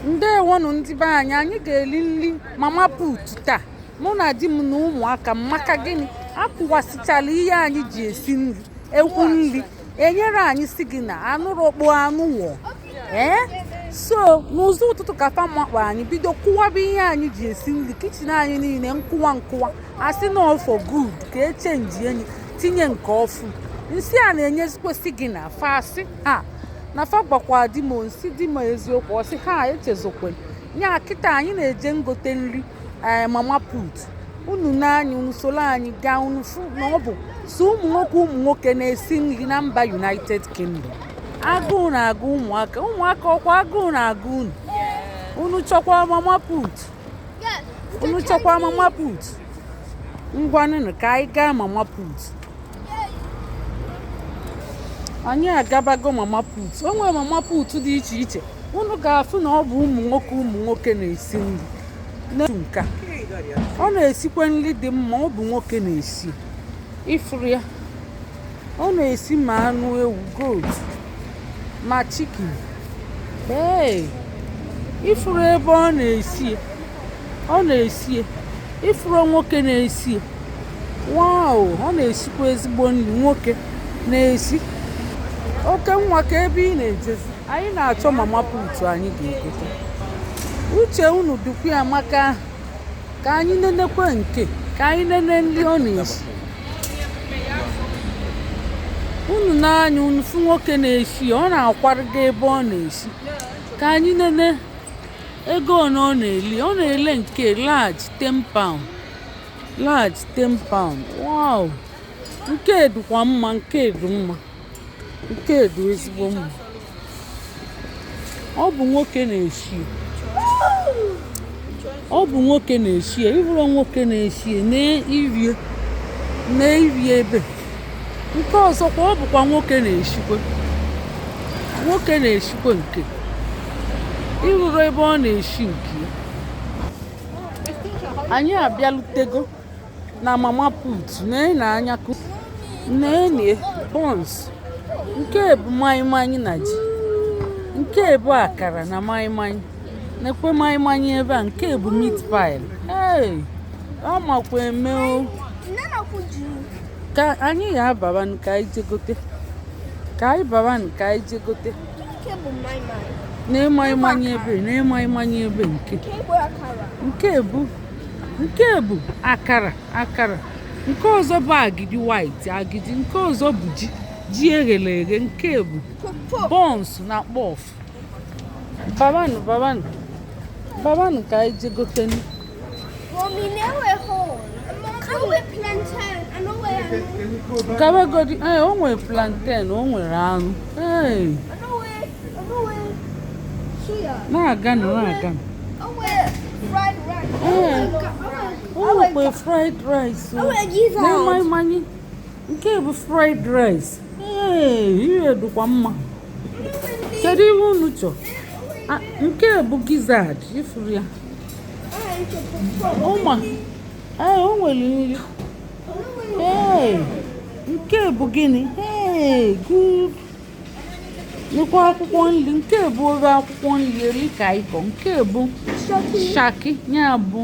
ndewonụ ndị be anyị anyị ga-eli nri mama put taa mụ na di m na ụmụaka m maka gịnị akụwasịchala ihe anyị ji esi nri ekwu nri enyere anyị signal anụrọkpọ anụ o ee so n'ụzọ ụtụtụ ka fa makpọ anyị bido kụwaba ihe anyị ji esi nri kitchen anyị niile nkụwa nkụwa asị na ọ bụ for good ka echenji enyi tinye nke ọfụ m sị a na-enyezikwa signal fa sị ha na fa gwakwa di m m sị di m eziokwu ọ sị ha echezokwe ya kịta anyị na-eje ngote nri ee mama put unu na anyị unu soro anyị gaa unu fụ na ọ bụ so ụmụ nwoke ụmụ nwoke na-esi nri na mba united kingdom agụụ na-agụ ụmụaka ụmụaka ọkwa agụụ na-agụ unu unu chọkwa mama put unu chọkwa mama put ngwanụnụ ka anyị gaa mama put anyị agabago mama put o nwere mama put dị iche iche unu ga-afụ na ọ bụ ụmụ nwoke ụmụ nwoke na-esi nri n'otu nke a ọ na-esikwa nri dị mma ọ bụ nwoke na-esi ị fụrụ ya ọ na-esi ma anụ ewu goat ma chicken ee ị fụrụ ebe ọ na-esi ọ na-esi ị fụrụ nwoke na-esi wow ọ na-esikwa ezigbo nri nwoke na-esi oke nwa ka ebe ị na-ejezi anyị na-achọ mama put anyị ga-egote uche unu dịkwa ya maka ka anyị nenekwe nke ka anyị nene nri ọ na-esi unu na anyị unu fụ nwoke na-esi ọ na-akwarịga ebe ọ na-esi ka anyị nene ego one ọ na-ele ọ na-ele nke large 10 pound large 10 pound wow nke dịkwa mma nke dị mma nke dị ezigbo mma ọ bụ nwoke na-eshi ọ bụ nwoke na-eshi ya ị hụrụ nwoke na-eshi ya na-irie na-irie ebe nke ọzọkwa ọ bụkwa nwoke na-eshikwe nwoke na-eshikwe nke ị hụrụ ebe ọ na-eshi nke anyị abịalutego na mama put nene anya nene buns nke bụ maịmaị na ji nke bụ akara na maịmaị nekwe maịmaị ebe a nke bụ meat pie ee ọ makwa eme o ka anyị ya ababa nke anyị jegote ka anyị baba nke anyị jegote nee maịmaị ebe nee maịmaị ebe nke nke bụ nke bụ akara akara nke ọzọ bụ agidi white agidi nke ọzọ bụ ji ji eghele eghe nke bụ bọns na kpọf babanụ babanụ babanụ ka anyị je gotenu Mommy, now we're home. Can we plantain? I know where I know. gabagodi ee o nwere plantain o nwere anụ ee na-aga na na-aga o nwekwa fried rice na-amaghị mmanya nke bụ fried rice ee ihe dịkwa mma kedu ihe unu chọ nke bụ gizzard ị fụrụ ya ụma ee o nwere nri ee nke bụ gịnị ee good nekwa akwụkwọ nri nke bụ ofe akwụkwọ nri edikaikong nke bụ shaki ya bụ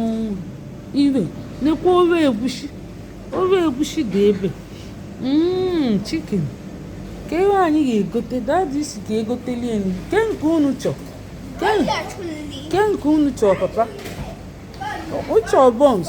ire nekwa ofe egusi ofe egusi dị ebe mm, chicken ke ihe anyị ga-egote dadi sị ka e goteli anyị ke nke unu chọ ke nke unu chọ papa ọ chọ bọns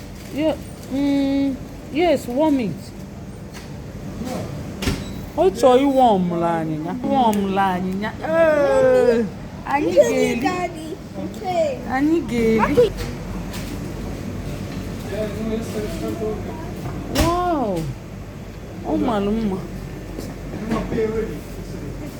Yeah, mm, yes, warm it. Ọ chọ ịwọmụlụ anyị ya. Ịwọmụlụ anyị ya. Ee, anyị ga-eri. Anyị ga-eri. Wow! Ọ mara mma.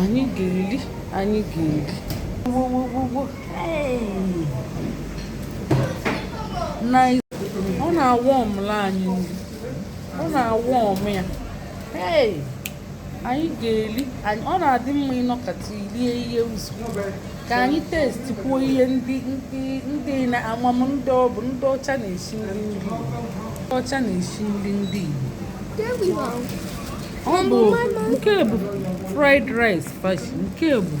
anyị ga-eli anyị ga-eli ọ na-awọmụlụ anyị nri ọ na-awọmụ ya anyị ga-eli ọ na-adị mma ịnọkọta ilie ihe ụzọ ka anyị testikwuo ihe ndị ndị ndị na ama m ndị ọ bụ ndị ọcha na-esi nri ndị Igbo ndị ọcha na-esi nri ndị Igbo ọ bụ nke bụ fried rice fashi nke bụ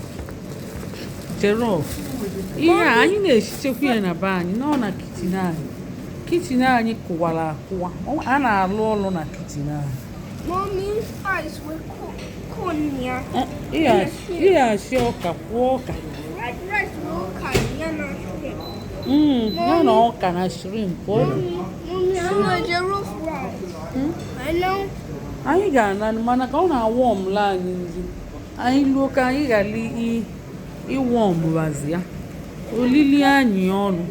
jollof ihe a anyị na-esichekwa ya na be anyị nọ na kichin anyị kichin anyị kụwara akụwa a na-alụ ọlụ na kichin anyị ihe asị ọka kwụọ ọka ya na ọka na shrimp anyị ga-ana mana ka ọ na-awọmụlụ anyị nri anyị luo ka anyị ghara ịwọmbazi ya ọ dịlị anyị ọlụ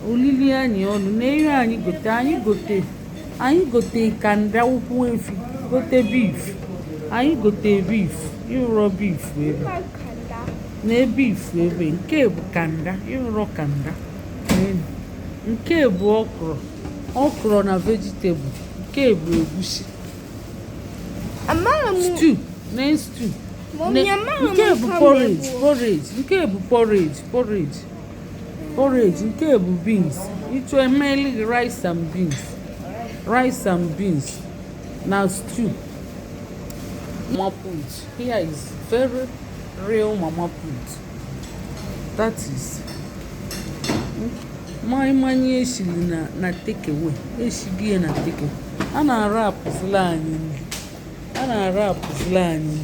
o lili anyị ọnụ na ihe anyị gote anyị gote anyị gote kanda ụkwụ efi gote beef anyị gote beef ị hụrọ beef ebe na beef ebe nke bụ kanda ị hụrọ kanda nke bụ okro okro na vegetable nke bụ egusi stew na stew nke bụ porridge porridge nke bụ porridge porridge porridge nke a bụ beans ị chọọ e meli gị rice and beans rice and beans na stew mama put here is very real mama put that is mmanya mmanya eshiri na na take away eshighi na take away a na-arapụzila anyị nri a na-ara apụzila anyị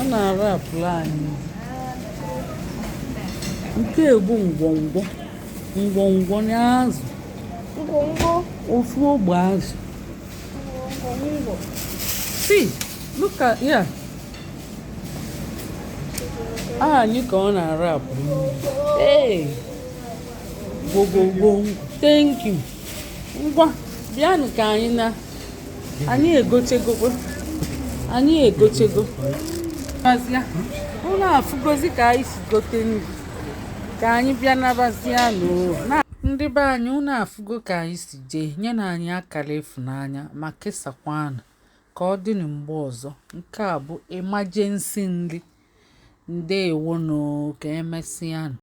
a na-ara apụla anyị nke bụ ngwongwo ngwongwo na azụ ofu ogbe azụ see look at yeah aha anyị ka ọ na-ara apụ ee gbogbogboo thank you ngwa bịanụ ka anyị na anyị egochegokwe anyị egochego unu afụgozi ka anyị si gote nri ka anyị bịa nabazia n'ụnọ ndị be anyị unu afụgo ka anyị si jee nyenụ anyị akara ịfụnanya ma kesakwanụ ka ọ dịnụ mgbe ọzọ nke a bụ emergency nri ndewonụ ka emesịanụ